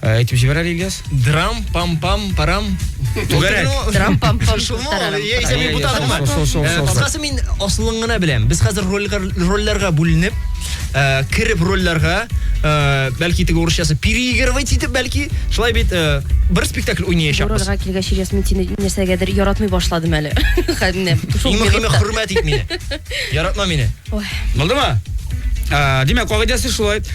Ә, әйтеп җибәр әле Ильяс. Драм пам пам парам. Түгәрәк. Трам пам пам Шул мо? тарам. Я исә мин бутадым ма? Шул, шул, шул, Э, шул. Кыскасы мин асылын гына беләм. Без хәзер рольгә- рольләргә бүленеп, э, кереп рольләргә, э, бәлки теге урысчасы переигрывать итеп бәлки, шулай бит э, бер спектакль уйнаячакбыз. Урарга килгәч, Ильяс, мин сине нәрсәгәдер яратмый башладым әле. Хәзер менә шул Иң мөһиме минутта. хөрмәт ит мине. Яратма мине. Ой. Булдымы? Ә, Димәк, кагыйдәсе шулай.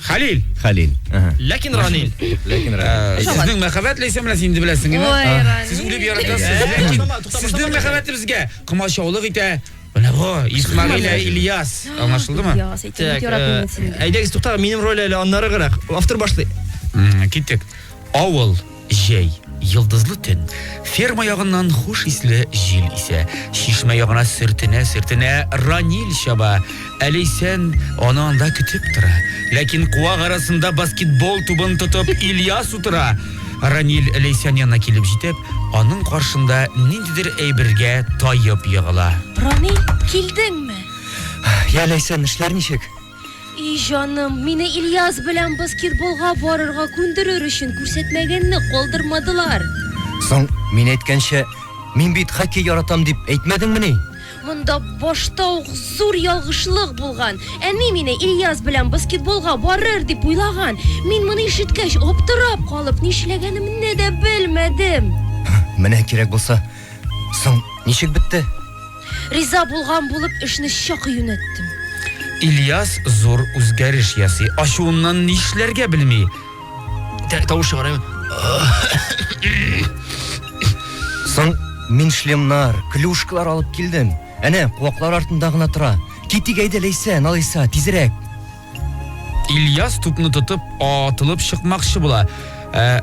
Хәлил. Хәлил. Ага. Ләкин Ранил. Ләкин Ранил. Э, сезнең мәхәббәт ләйсәмләс инде беләсең, әйме? Ой, Ранил. Сез үлеп яратасыз. Ләкин сезнең мәхәббәтегезгә комачаулык итә. Менә бу Исмагыйль Ильяс. Аңлашылдымы? Ильяс, әйтеп яратмыйм э, сине. Әйдәгез, туктагыз, минем роль әле аннары гырак. Автор башлый. Киттек. Авыл. Җәй, йолдызлы төн. Ферма ягыннан хуш исле җил исә. Чишмә ягына сөртенә-сөртенә Ранил чаба. Әләйсән, аны анда көтеп тора. Ләкин куак арасында баскетбол тубын тотып Ильяс утыра. Ранил Ләйсән янына килеп җитеп, аның каршында ниндидер әйбергә таеп егыла. Ранил, килдеңме? Йә, Ләйсән, эшләр ничек? И җаным, мине Ильяс белән баскетболга барырга күндерер өчен күрсәтмәгәнне калдырмадылар. Соң, мин әйткәнчә, мин бит хоккей яратам дип әйтмәдеңмени? Монда башта ук зур ялгышлык булган. Әни мине Ильяс белән баскетболга барыр дип уйлаган. Мин моны ишеткәч, аптырап калып, нишләгәнемне дә белмәдем. Менә кирәк булса. Соң, ничек бетте? Риза булган булып эшне чак юнәттем. Ильяс зур үзгәреш ясый. Ачуыннан нишләргә белми. Тавыш чыгарайм. Соң мин шлемнар, клюшкалар алып килдем. Әнә, куаклар артында гына тора. Китик әйдә, Ләйсән, алайса, тизрәк. Ильяс тупны тотып, атылып чыкмакчы була. Ә,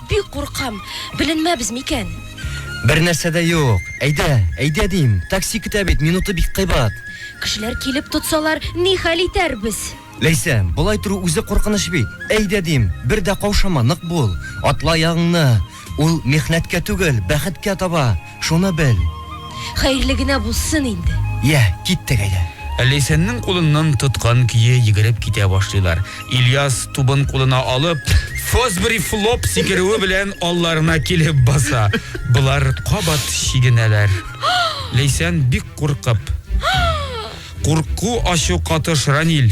Бик куркам. Беленмәбез микән? Бер нәрсә дә юк. Әйдә, әйдә дим. Такси көтә бит, минуты бик кыйбат. Кешеләр килеп тотсалар, ни хәл итәрбез? Ләйсән, болай тору үзе куркыныч бит. Әйдә дим, бер дә каушама, нык бул. Атла аягыңны. Ул михнәткә түгел, бәхеткә таба. Шуны бел. Хәерле генә булсын инде. Йә, киттек әйдә. Ләйсәннең кулыннан тоткан көе йөгереп китә башлыйлар. Ильяс, тубын кулына алып, Фосбери флоп сикерүе белән алларына килеп баса. Болар кабат чигенәләр. Ләйсән бик куркып. Курку ачу катыш, Раниль.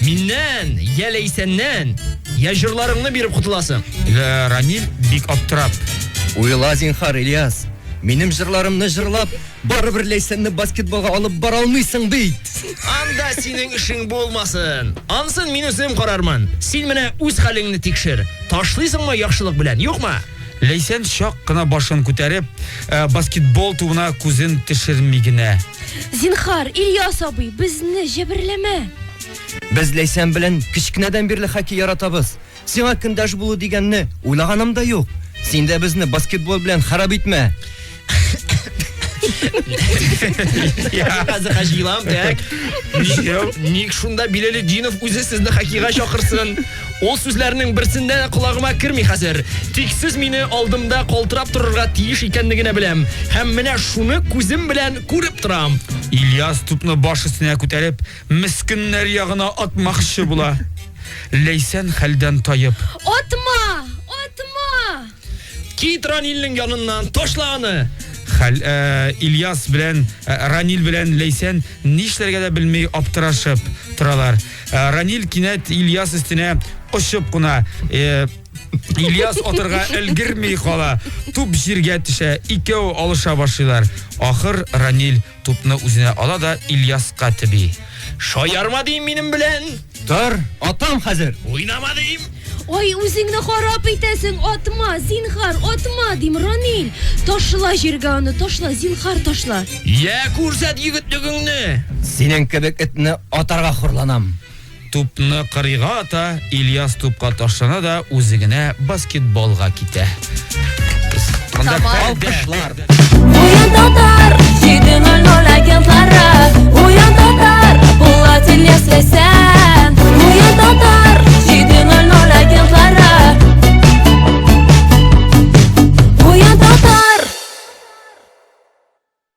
Миннән, я Ләйсәннән, я җырларыңны биреп котыласың. Э, Рамил бик аптырап. Уйла зинхар, Ильяс. Минем җырларымны җырлап, барыбер Ләйсәнне баскетболга алып бара алмыйсың бит. Анда синең эшең булмасын. Ансын мин үзем карармын. Син менә үз хәлеңне тикшер. Ташлыйсыңмы яхшылык белән, юкмы? Ләйсән чак кына башын күтәреп, э, баскетбол тубына күзен төшерми генә. Зинхар, Ильяс абый, безне җәберләмә. Без Ләйсән белән кечкенәдән бирле хоккей яратабыз. Сиңа көндәш булу дигәнне уйлаганым да юк. Син дә безне баскетбол белән харап итмә. Хәзер хаҗилам, так. Ник шунда Биләле Динов үзе сезне хоккейга чакырсын? Ул сүзләрнең берсендә дә колагыма керми хәзер. Тик сез мине алдымда калтырап торырга тиеш икәнлегенә беләм. Һәм менә шуны күзем белән күреп торам. Ильяс тупны баш өстенә күтәреп, мескеннәр ягына атмакчы була. Ләйсән хәлдән таеп. Атма! Атма! Кит Ранилнең яныннан, ташла аны! Хәл, ә, э, Ильяс белән ә, э, Ранил белән Ләйсән нишләргә дә белми аптырашып торалар. Ә, э, Ранил кинәт Ильяс өстенә очып куна. Ә, Ильяс атырга өлгерми кала. Туп җиргә төшә. Икәү алыша башлыйлар. Ахыр Ранил Тупны үзенә ала да Ильяска тиби. Шаярма дим минем белән! Тор, атам хәзер! Уйнама дим! Ой, үзеңне харап итәсең, атма, зинхар, атма, дим, Ранил. Ташла җиргә аны, ташла, зинхар, ташла. Я, күрсәт егетлегеңне! Синең кебек этне атарга хурланам. Тупны кырыйга ата, Ильяс тупка ташлана да үзе генә баскетболга китә. Монда алкышлар. Уен татар, 7.00 агентлары. Уен татар, Булат Ильяс Ләйсән. Уен татар, 7.00 агентлары. Уен татар.